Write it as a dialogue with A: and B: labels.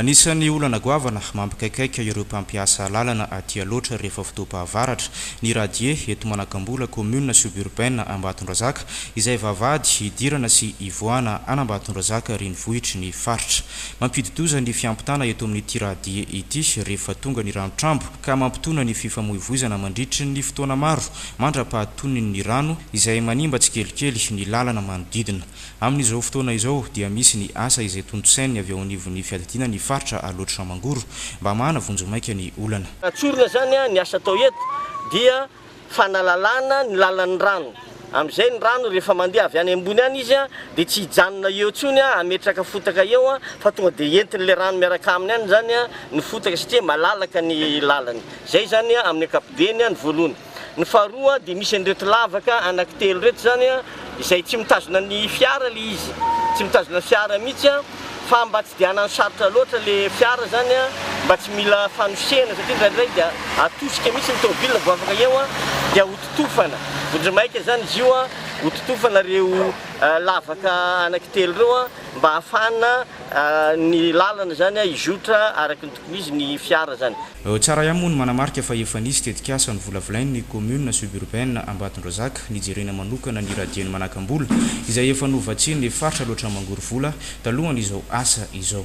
A: Anisan'ny olana goavana mampikaikaika ireo mpampiasa lalana aty Alaotra rehefa fotoam-pahavaratra, ny radie eto Manakambola, commune suburbaine Ambatondrazaka, izay vavahady hidirana sy hivoahana an'Ambatondrazaka renivohitry ny faritra. Mampidi-doza ny fiampitana eto amin'ity radie ity rehefa tonga ny ranotrambo ka mampitona ny fifamoivoizana mandritry ny fotoana maro mandra-pahatonin'ny rano izay manimba tsikelikely ny lalana manodidina. Amin'izao fotoana izao dia misy ny asa izay tontosain'ny avy ao anivon'ny fiadidiana ny faritra Alaotra Mangoro mba hamahana vonjimaika ny olana. Tsorina izany ny
B: asa atao eto dia fanalalana ny lalan'ny rano, amin'izay ny rano rehefa mandeha avy any ambony any izy dia tsy hijanona eo intsony hametraka fotaka eo fa tonga dia entin'ilay rano miaraka aminy any izany ny fotaka satria malalaka ny lalany. Izay izany amin'ny ankapobeny ny voalohany. Ny faharoa dia misy an'ireto lavaka anaky telo ireto izany an, izay tsy mitazona ny fiara ilay izy, tsy mitazona ny fiara mihitsy an, fa mba tsy dia hanano sarotra loatra ilay fiara izany an, mba tsy mila fanosehana satria indraindray dia atosika mihitsy ny tomobilina vao afaka eo an, dia hototofana, vondro maika izany izy io an, hototofana ireo lavaka anaky telo ireo an, mba hahafahana ny lalana izany an hizotra araky ny tokony izy ny fiara izany. Tsara ihany moa ny
A: manamarika fa efa nisy tetikasa novolavolain' ny Commune Suburbaine Ambatondrazaka nijerena manokana ny Radieny Manakam-bola izay efa novatsian' ny Faritra Alaotra Mangorovola talohan' izao asa izao.